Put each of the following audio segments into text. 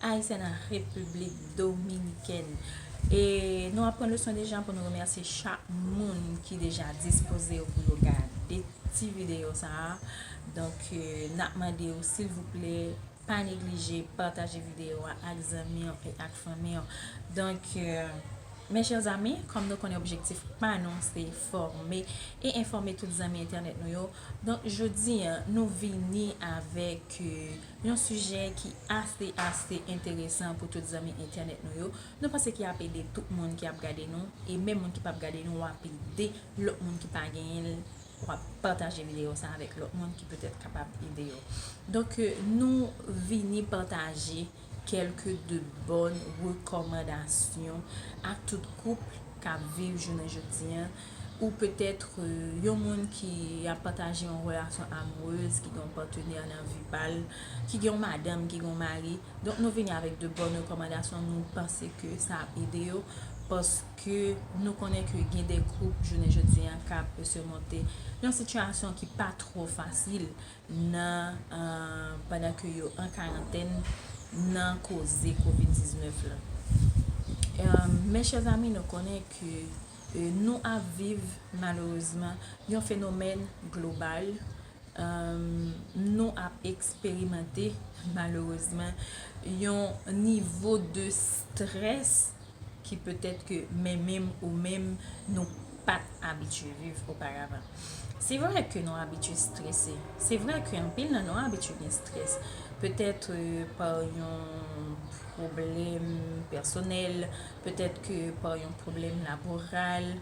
Ayisyen nan Repiblik Dominikèn. E nou ap pran leson de jan pou nou remèsye chak moun ki deja dispoze yo pou yo gade ti videyo sa a. Donk, n ap mande ou silvouplè pa neglije pataje videyo a ak zanmi yo e ak fanmi yo. Donk, mes chers amis, kòm nou konnen objektif pa nou se fòme e enfòme tout zanmi entènèt nou yo, donk jodi a nou vini avèk. Yon sijè ki ase ase enteresan pou tout zanmi entènèt nou yo, nou panse ki ap ede tout moun ki ap gade nou, e menm moun ki pap gade nou wap ede lòt moun ki pa genyen l wap pataje videyo sa avèk lòt moun ki petèt kapab ede yo donk nou vini pataje kèlke de bòn rekòmandasyon ak tout koup kap viv jounen jodi an. ou peut-être yon moun ki ap pataje yon relasyon amoureuse, ki gen yon partenaire nan vi pa l, ki gen yon madanm, ki gen yon mari, donk nou vini avèk de bòn rekòmandasyon, nou panse ke sa ap ede yo, paske nou konnen ke gen de koup jounen jodi an k ap sèmonte yon sitiyasyon ki pa twò fasil nan pandan ke yo an karantèn nan koze covid 19 la. Mes chers amis nou konnen ke. Nou ap viv malerezman yon fenomèn global, nou ap eksperimante malerezman yon nivo de strès ki petèt ke mwen menm ou menm nou pat abitye viv oparavan. Se vre ke nou abitye strese, se vre ke anpil nan nou abitye gen strès, petèt pa yon pwoblèm pèsonèl, Petèt ke pa yon pwoblèm laboral,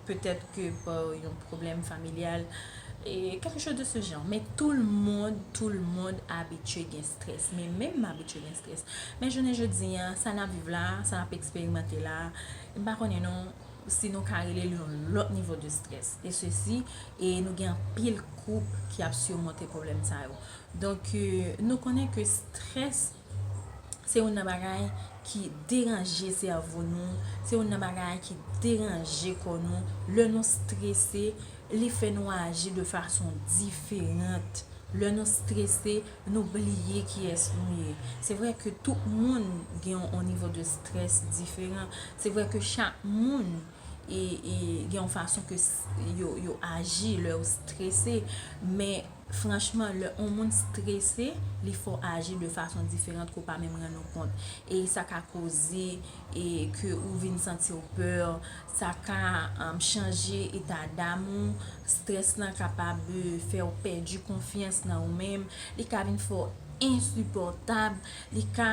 petèt ke pa yon pwoblèm familyal, kèlke chòz de se jan. Men tou l mond, tou l mond abitye gen strès. Men menm m abitye gen strès. Men jounen jodi a, sa n ap viv la, sa n ap eksperimante la, m pa konnen non si nou ka rele l yon lòt nivo de strès. E se si, e nou gen anpil koup ki ap simonte pwoblèm sa yo. Donk, nou konnen ke strès. Se youn nan bagay ki deranje sèvo nou, se youn nan bagay ki deranje kò nou. Lè nou strese, li fè nou aji de fason diferant. Lè nou strese, nou bliye kiyès nou ye. Se vre ke tout moun gen yon nivo de strès diferan. Se vre ke chak moun gen yon fason ke yo aji lè yo strese. Franchman, lè on moun strese, li fò aji de fason diferant ke w pa menm rann ou kont. E sa ka koze ke ou vin santi w pè, sa ka chanje eta dam ou, strès lan kapab fè w pèdi konfyans nan ou menm, li ka vin fè w ensipòtab, li ka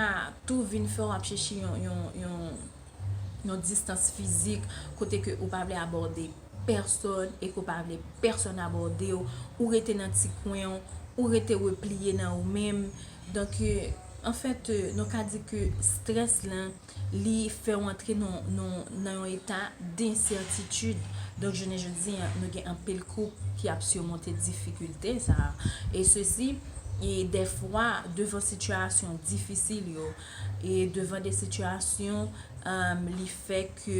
tou vin fè w ap chèche yon distans fizik kote ke ou pa vle abòde. pèsòn e ke w pa vle pèsòn abòde w, ou rete nan ti kwen w, ou rete repliye nan ou menm. Donk, an fèt, nou ka di ke strès lan, li fè w antre nan yon eta densètitid. Donk, jounen jodi an, nou gen anpil koup ki ap simonte difikilte sa a. E sesi, e dèfwa, devan sitiyasyon difisil yo, e devan de sitiyasyon, li fè ke.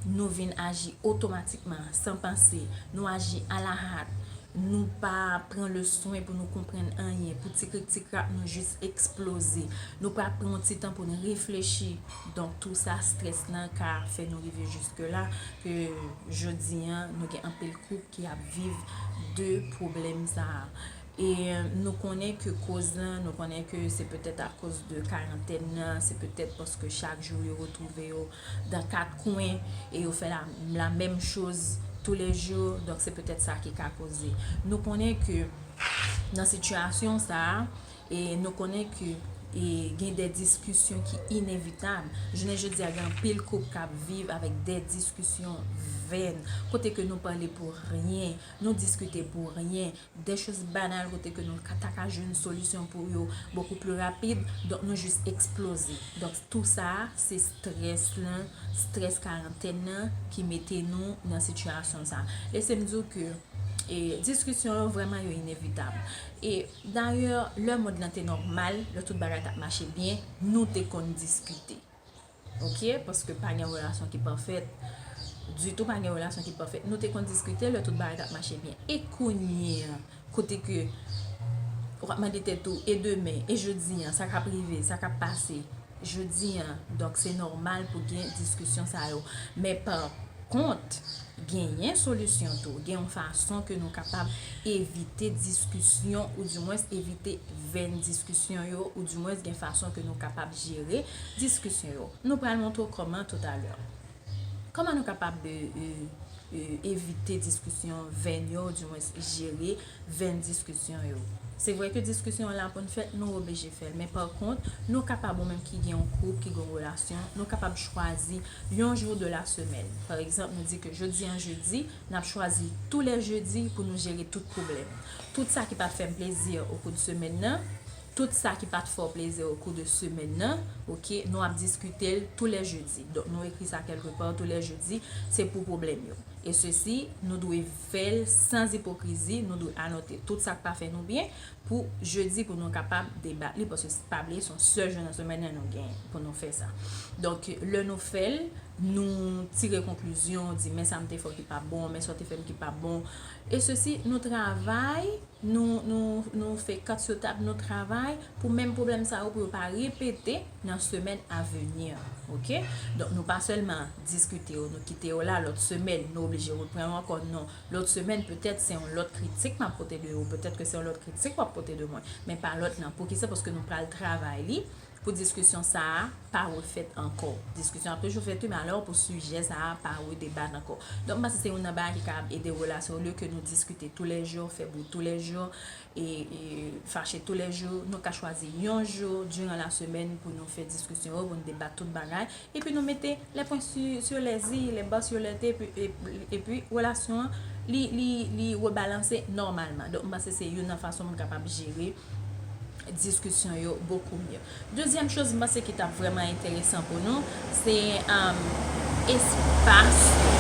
nou vin aji otomatikman, san panse, nou aji ala hat, nou pa pran le swen pou nou konprann anyen, pou ti krik ti krak nou jis eksploze, nou pa pran yon ti tan pou nou reflechi, donk tou sa strès lan ka fè nou rive jiske la, ke jodi an nou gen anpil koup ki ap viv de pwoblèm sa a. E nou konnen ke koz lan, nou konnen ke se petèt akoz de karantèn nan, se petèt paske chak jou yo retwouve yo dan kat kwen e yo fè la menm choz tou le jou donk se petèt sa ki ka koze nou konnen ke nan sitiyasyon sa e nou konnen ke e gen de diskisyon ki inevitab jounen jodi a gen anpil koup k ap viv avèk de diskisyon vèn kote ke nou pale pou ryen nou diskite pou ryen. des choses banales kote ke nou ta ka jwenn solisyon pou yo beaucoup plus rapide, donk nou jis eksploze. Donk tout sa a se strès lan, strès karantèn nan ki mete nou nan sitiyasyon sa. Lese m di w ke diskisyon yo vrèman yo inevitab. E dayè lè mond lan te nòmal, lè tout bagay t ap mache byen, nou te konn diskite. Ok paske pa gen relasyon ki pafèt Ditou pa gen relasyon ki pafèt Nou te konn diskite lè tout bagay tap mache byen E kounye an Kote ke Ou ap mande tèt ou e demen e jodi an Sa kap rive sa kap pase Jodi an Donk se nòmal pou gen diskisyon sa yo Men pa kont Genyen solisyon tou. Gen yon fason ke nou kapab evite diskisyon ou di mwens evite venn diskisyon yo ou di mwens gen fason ke nou kapab jere diskisyon yo. Nou pral montre w kòman tout a lè. Kòman nou kapab evite diskisyon venn yo ou di mwens jere. vèn diskisyon yo. Se vre ke diskisyon an la pou n fè l, nou oblije fè l. Men pa kont, nou kapab ou menm ki gen yon koup, ki gen yon relasyon, nou kapab chwazi yon jou de la semèn. Pa egzanp, nou di ke jodi an jedi, n ap chwazi tou lè jedi pou nou jere tout pwoblèm. Tout sa ki pa fè m plezi o kou de semèn nan, Tout sa ki pat fè w plezi o kou de semèn nan ok nou ap diskite l tou lè jedi donk nou ekri sa kèlke pa tou lè jedi se pou pwoblèm yo e sesi nou dwe fè l sans ipokrizi nou dwe anote tout sa k pa fè nou byen pou jedi pou nou kapab debat li paske pa bliye se yon sèl jou nan semèn nan nou gen pou nou fè sa donk lè nou fè l nou tire konklizyon di men sa m te fè w ki pa bon men sa w te fè m ki pa bon e sesi nou travay Nou nou nou fè kant sou tab nou travay pou menm pwoblèm sa yo pou yo pa repete nan semèn a venir ok donk nou pa sèlman diskite yo nou kite yo la lòt semèn nou oblije repran yo ankò non lòt semèn petèt se yon lòt kritik map pote de ou petèt ke se yon lòt kritik wap pote de mwen men pa lòt nan poukisa paske nou pral travay li Pou diskisyon sa a pa refèt ankò. Diskisyon ap toujou fèt wi men alò pou sijè sa a pa redebat ankò. Donk m panse se youn nan bagay ki kapab ede relasyon olye ke nou diskite tou lè jou, fè bri tou lè jou, e fache tou lè jou, nou ka chwazi yon jou diran lasemèn pou nou fè diskisyon yo, pou nou debat tout bagay, Epi nou mete les points sur les i, les bas sur les t, epi relasyon an li rebalanse nòmalman. Donk m panse se youn nan fason moun kapab jere diskisyon yo bokou mye. Dezyèm choz m panse ki t ap vrèman enteresan pou nou, se espas yo.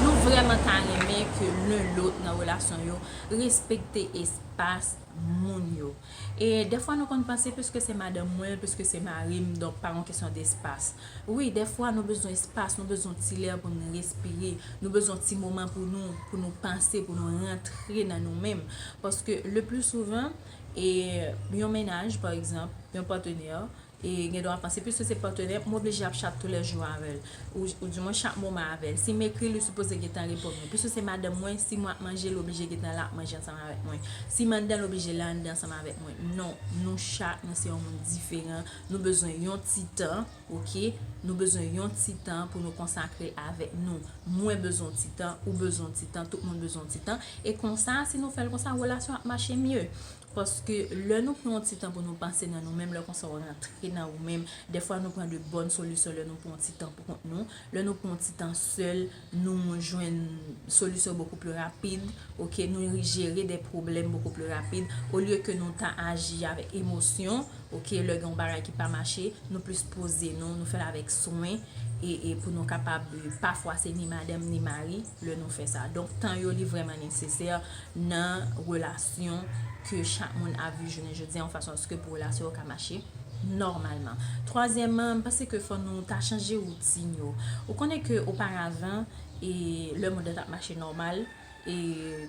Nou vrèman ta renmen ke len lòt nan relasyon yo respekte espas moun yo. E dèfwa nou konn panse piske se madanm mwen, piske se mari m, donk pa yon kesyon despas. Wi, dèfwa nou bezwen espas, nou bezwen yon ti lè pou nou respire, nou bezwen yon ti moman pou nou, pou nou panse, pou nou rantre nan nou menm. Paske le pli souvan, yon mennaj pa egzanp, yon patenè, E gen dwa panse, piske se patenè, m oblije ap chat toulèjou avè l. Ou di mwen chak moman avè l. Si m ekri l, li sipoze gentan reponn mwen. Piske se madanm mwen, si mwen ap manje, li oblije gentan la ap manje ansanm avèk mwen. Si m anndan, li oblije la anndan ansanm avèk mwen. Non, nou chak, nou se yon moun diferan. Nou bezwen yon ti tan, oke. Nou bezwen yon ti tan pou nou konsakre l avèk nou. Mwen bezwen yon ti tan, ou bezwen yon ti tan, tout moun bezwen yon ti tan. E konsa, si nou fè l konsa, relasyon ap mache mye. Paske lè nou pran yon ti tan pou nou panse nan nou menm, lè konsa ou rantre nan ou menm. Dèfwa nou pran de bòn solisyon lè nou pran yon ti tan pou kont nou. Lè nou pran yon ti tan sèl, nou jwenn solisyon bokou pli rapid, ok. Nou jere de pwoblèm bokou pli rapid. Olye ke nou ta aji avèk emosyon, ok, lè gen yon bagay ki pa mache, nou plis poze nou, nou fè l avèk swen e pou nou kapab, pafwa se ni madanm ni mari. lè nou fè sa donk tan yo li vrèman nesesè nan relasyon ke chak moun ap viv jounen jodi yon fason aske pou relasyon yo ka mache nòmalman twazyèman m panse ke fò nou ta chanje woutin yo ou konnen ke oparavan e lè moun nan tap mache nòmal e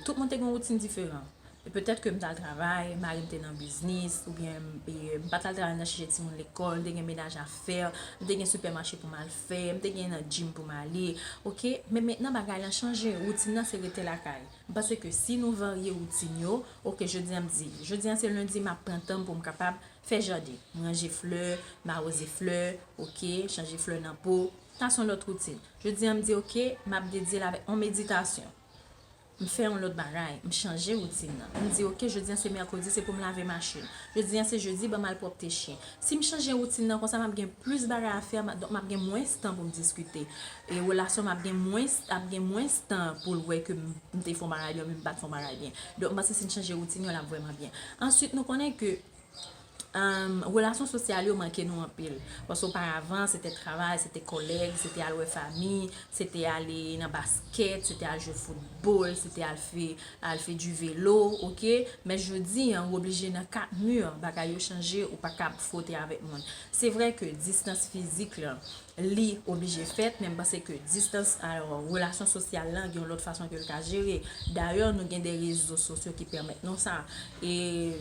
tout moun te gen yon woutin diferan. E petèt ke m t al travay, mari m te nan biznis, oubyen m pa t al travay nan chèche timoun lekòl, m te gen menaj a fè, m te gen sipèmache pou m al fè, m te gen nan jim pou m ale. Ok, men mentnan bagay lan chanje, woutin nan se rete lakay. M panse ke si nou varye woutin yo, ok jodi an m di, jodi an se lendi m ap pran tan m pou m kapab fè jaden, m ranje flè, m awoze flè, ok, chanje flè nan po, sa s on lòt woutin. Jodi an m di ok, m ap dedye l avèk on meditasyon. M fè yon lòt bagay, m chanje woutin nan. M di ok, jodi an se mèkredi, se pou m lave machin. Jodi an se jedi, ban m al pwòpte chyen. Si m chanje woutin nan, konsa m ap gen plis bagay a fè, donk m ap gen mwens tan pou m diskite. E relasyon m ap gen mwens, ap gen mwens tan pou l wè ke m te fè yon bagay byen oubyen m pa t fè yon bagay byen. Donk m panse si n chanje woutin yo, l ap vrèman byen. Answit nou konnen ke Relasyon sosyal yo manke nou anpil. Paske oparavan, se te travay, se te kòlèg, se te al wè fami, se te ale nan baskèt, se te al jwe foutbòl, se te al fè di velo, ok? Men jodi an, ou oblije nan 4 mur, bagay yo chanje, ou pa kab fwote avèk moun. Se vre ke distans fizik lan, li oblije fèt men m panse ke distans alò relasyon sosyal lan gen yon lòt fason ke l ka jere dayè nou gen de rezo sosyo ki pèmèt nou sa e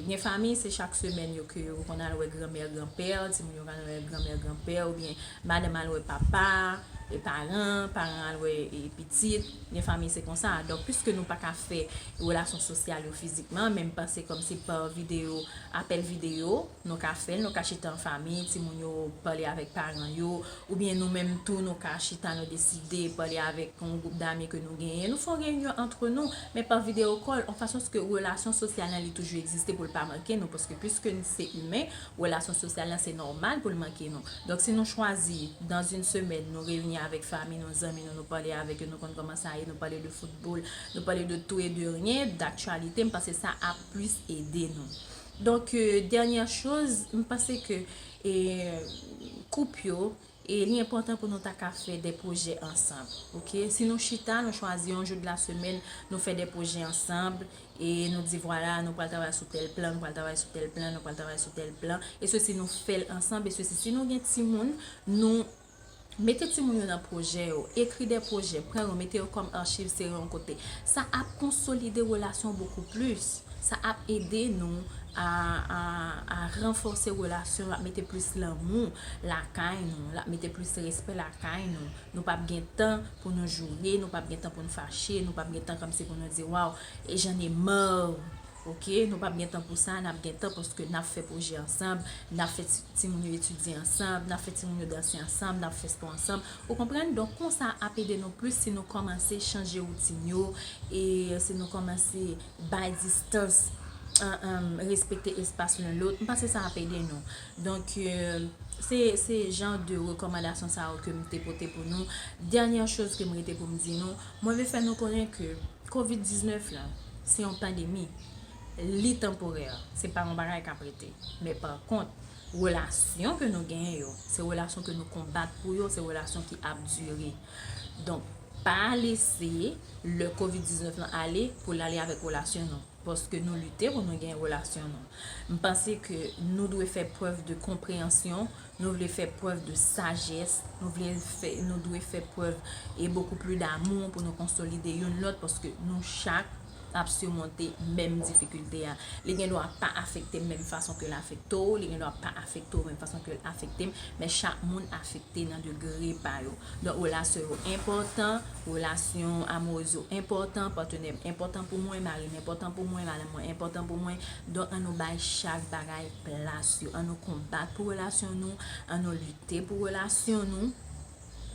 gen famiy se chak semèn yo ke yo konn al wè granmè granpè timoun yo konn al wè granmè granpè oubyen madanm al wè papa e paran paran al wè pitit gen famiy se konsa donk piske nou pa ka fè relasyon sosyal yo fizikman men m panse kòmsi pa videyo apèl videyo. Nou ka fè l, nou ka chita an fami, timoun yo pale avèk paran yo, oubyen nou menm tou nou ka chita nou deside pale avèk yon gwoup dami ke nou genyen, nou fè yon reyinyon antre nou, men pa videyo kòl, an fason ske relasyon sosyal lan li toujou egziste pou l pa manke nou, paske piske n se imen, relasyon sosyal lan se nòmal pou l manke nou. Donk si nou chwazi dans une semaine nou reyini avèk fami nou, zanmi nou, nou pale avèk yo, nou konn kòman sa ye, nou pale de foutbòl, nou pale de tou e de ryen, daktyalite, m panse sa ap plis ede nou. Donk dènyè choz m panse ke koup yo li enpòtan pou nou ta ka fè de pwojè ansanm ok si nou chita nou chwazi yon jou de la semèn nou fè de pwojè ansanm e nou di vwala nou pral travay sou tèl plan nou pral travay sou tèl plan nou pral travay sou tèl plan e sesi nou fèl ansanm e sesi si nou gen timoun nou Mete timoun yo nan pwojè yo. Ekri de pwojè, pran yo, mete yo kòm archiv se yon kote. Sa ap konsolide relasyon bokou plis. Sa ap ede nou a ranfòse relasyon. L ap mete plis lanmou lakay nou. L ap mete plis respè lakay nou. Nou pap gen tan pou nou joure, nou pap gen tan pou nou fache, nou pap gen tan kòmsi pou nou di waw, j'en ai marre Ok nou pap gen tan pou sa nap gen tan paske nap fè pwojè ansanm nap fè timoun yo etidye ansanm nap fè timoun yo danse ansanm nap fè spò ansanm ou konprann donk konsa ap ede nou plis si nou kòmanse chanje woutin yo e si nou kòmanse bay distans respekte espas len lòt m panse sa ap ede nou donk se jan de rekòmandasyon sa yo kem te pote pou nou dènyè choz kem rete pou m di nou mwen vle fè nou konnen ke Covid 19 la, se yon pandemi, li tanporè, se pa yon bagay kap rete. Men pa kont, relasyon ke nou genyen yo, se relasyon ke nou konbat pou yo, se relasyon ki ap dire. Donk, pa lese le Covid 19 lan ale pou l ale avèk relasyon nou. Paske nou lite pou nou genyen relasyon nou. M panse ke nou dwe fè prèv de konpreyansyon Nou vle fè prèv de sajès, nou vle fè, nou dwe fè prèv e bokou pli damou pou nou konsolide youn lòt paske nou chak ap simonte menm difikilte a. Li gen dwa pa afekte m menm fason ke l afekte w, li gen dwa pa afekte w menm fason ke l afekte m, men chak moun afekte nan degre pa yo. Donk relasyon yo enpòtan, relasyon amourèz yo enpòtan, patenè m enpòtan pou mwen, mari m enpòtan pou mwen, madanm mwen enpòtan pou mwen, donk an nou bay chak bagay plas yo, an nou konbat pou relasyon nou, an nou lite pou relasyon nou,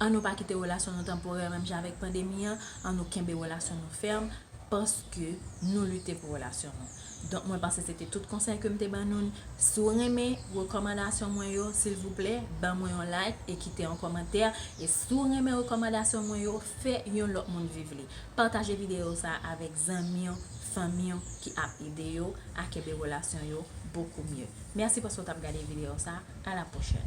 an nou pa kite relasyon nou tanporè menm jan avèk pandemi an, an nou kenbe relasyon nou fèm, paske nou lite pou relasyon nou. Donk mwen panse se te tout konsèy ke m te ban nou. Si w renmen rekòmandasyon mwen yo, silvouplè, ban mwen yon like e kite yon kòmantè. E si w renmen rekòmandasyon mwen yo, fè yon lòt moun viv li. Pataje videyo sa avèk. zanmi yo, fanmi yo ki ap ede yo a kenbe relasyon yo bokou mye. Mèsi paske w t ap gade videyo sa a la pwochèn.